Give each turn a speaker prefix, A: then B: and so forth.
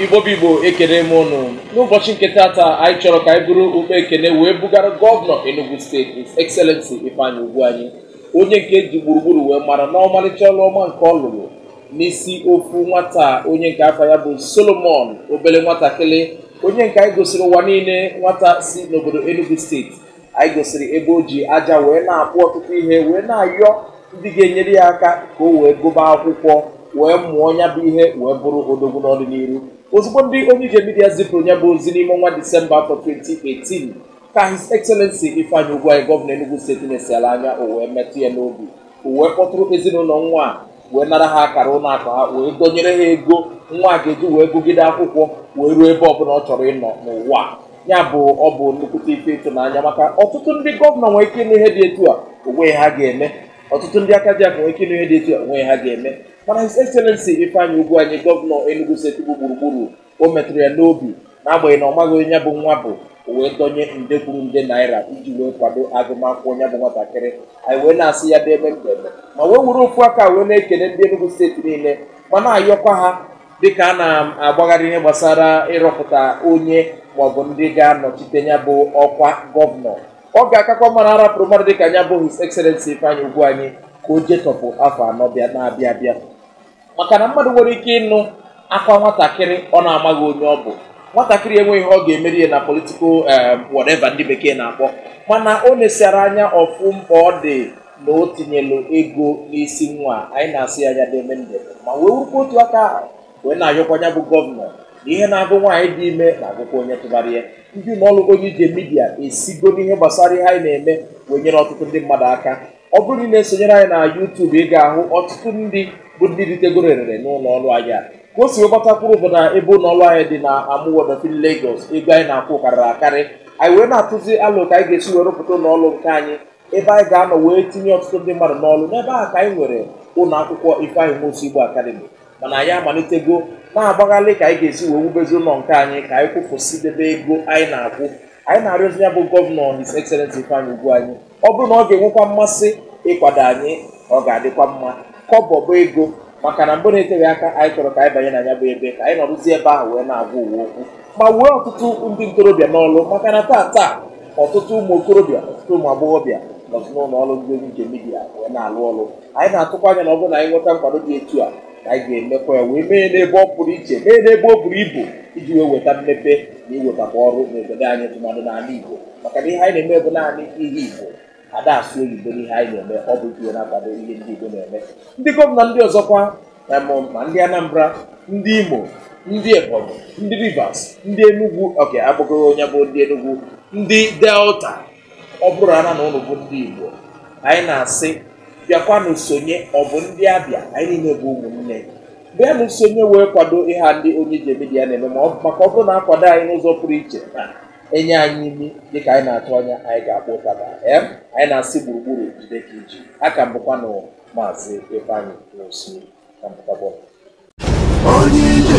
A: igbo bụ igbo ekene m ụnụ n'ụbọchị nke tata anyị chọrọ ka anyị buru ụkpa ekene wee bugara gọvanọ Enugu steeti His Excellency Ifeanyi Ugwuanyi onye nke e ji gburugburu wee mara n'ọmalịcha ọrụ ọma nke ọ lụrụ n'isi ofu nwata onye nke afa ya bụ Solomon obele nwatakịrị onye nke anyị gosiri ụwa niile nwata si n'obodo Enugu steeti anyị gosiri ebe o ji aja wee na-akpụ ọtụtụ ihe wee na-ayọ ndị ga-enyere ya aka ka o wee gụba akwụkwọ wee mụọ ya bụ ihe wee bụrụ odogwu n'ọdịnihu ozugbo ndị Onyeije Media zipụrụ ya bụ ozi n'ime ọnwa Disemba afọ 2018 ka His Excellency Ifeanyi Ugwuanyi gọvanọ Enugu steeti nesịala anya o wee metụ ya n'obi o wee kpọtụrụ ezinụlọ nwa a wee nara ha akara ụlọ akụ ha wee dọnyere ha ego nwa a ga-eji wee gụgide akwụkwọ wee ruo ebe ọbụla ọ chọrọ ịnọ n'ụwa a. ya bụ ọ bụ nnukwute ife ịtụnanya maka ọtụtụ ndị gọvanọ nwere ike ịnụ ihe dị etu a onwe ha ga-eme ọtụtụ ndị aka ji akụ nwere ike ịnụ ihe dị etu a onwe ha ga-eme mana His Excellency Ifeanyi Ugwuanyi gọvanọ Enugu steeti bụ gburugburu o metụrụ ya n'obi n'agbanyeghị na ọ maghị onye ya bụ nwa bụ o wee dọnye nde kwuru nde naira iji wee kwado agụmakwụkwọ ya bụ nwatakịrị anyị wee na-asị ya deme ndeme ma wee were ofu aka wee na-ekele ndị Enugu steeti niile ma na-ayọkwa ha dịka a na-agbagharị ihe gbasara ịrọpụta onye maọbụ ndị ga-anọchite ya bụ ọkwa gọvanọ ọ ga-akakwa mma na a rapụrụ mmadụ dịka ya bụ His Excellency Ifeanyi Ugwuanyi ka o jetọpụ afọ anọ bịa na-abịa abịa maka na mmadụ nwere ike ịnụ akwa nwatakịrị ọ na-amaghị onye ọ bụ nwatakịrị enweghị ihe ọ ga-emere ya na political eh, whatever ndị bekee na-akpọ mana o nesịara anya ọ fụ mkpa ọ dị na o tinyelu ego n'isi nwa anyị na-asị ya ya deme ndeme ma wee werekwa otu aka ahụ wee na-ayọkwa ya bụ gọvanọ na ihe na-agụ nwaanyị dị ime na-agụkwa onye tụbara ya ndị ụlọ ọrụ Onyeije Media esigo n'ihe gbasara ihe anyị na-eme wee nyere ọtụtụ ndị mmadụ aka ọ bụrụ na ị na-esonyere anyị na YouTube ị ga-ahụ ọtụtụ ndị bụ ndị ritegoro erere n'ụlọ ọrụ anyị a ka o si wee gbata kwụrụ bụ na ebe ụlọ ọrụ anyị dị na Amuwo Odofin Lagos ego anyị na-akwụ karịrị akarị anyị wee na-atụzi alo ka anyị ga-esi wee rụpụta ụlọ ọrụ nke anyị ebe anyị ga-anọ wee tinye ọtụtụ ndị mmadụ n'ọrụ n'ebe ahụ ka anyị nwere ụlọ akwụkwọ Ifeanyi Nwosu Igbo Academy mana anyị amalitego na-agbagharị ka anyị ga-esi wee wubezi ụlọ nke anyị ka anyị kwụfusidebe ego anyị na-akwụ anyị na-arịọzi ya bụ gọvanọ His Excellency Ifeanyi Ugwuanyi ọ bụrụ na ọ ga-enwekwa mmasị ịkwado anyị ọ ga-adịkwa mma kọbọ bụ ego maka na mgbe na-eteghị aka anyị chọrọ ka anyị banye na ya bụ ebe ka anyị nọrụzie ebe ahụ wee na-agwa ụwa okwu ma wee ọtụtụ ndị ntorobịa n'ọlụ maka na taa taa ọtụtụ ụmụ okorobịa ọtụtụ ụmụ agbọghọbịa nọzi n'ụlọ ọrụ ndị Onyeije Media wee na-alụ ọlụ anyị na-atụkwa anya na ọ bụrụ na anyị nweta nkwado dị etu a na anyị ga-emekwa ya wee mee n'ebe ọ pụrụ iche mee n'ebe o buru ibu iji wee weta mmepe na iwetakwa ọrụ n'obodo anyị tụmadụ n'ala Igbo maka na ihe anyị na-eme bụ naanị ihe Igbo a da-asụ oyibo n'ihe anyị na-eme ọ bụ ihe na-akwado ihe ndị Igbo na-eme ndị gọvanọ ndị ọzọkwa ma ndị Anambra ndị Imo ndị Ebonyi ndị Rivers ndị Enugu oke agbụgoro onye bụ ndị Enugu ndị Delta ọ bụrụ ana na unu bụ ndị Igbo anyị na-asị bịakwanụ sonye ọ bụ ndị Abịa anyị niile bụ ụmụnne bịanụ sonye wee kwado ihe a ndị Onye Ije Media na-eme maka ọ bụrụ na a kwado anyị n'ụzọ pụrụ iche e nye anyị imi dịka anyị na-atụ anya anyị ga-akpọ ụtaba ee anyị na-asị gburugburu jide ka i ji aka m bụkwanụ maazị Ifeanyi Nwosu na mbụkabọ Onye Ije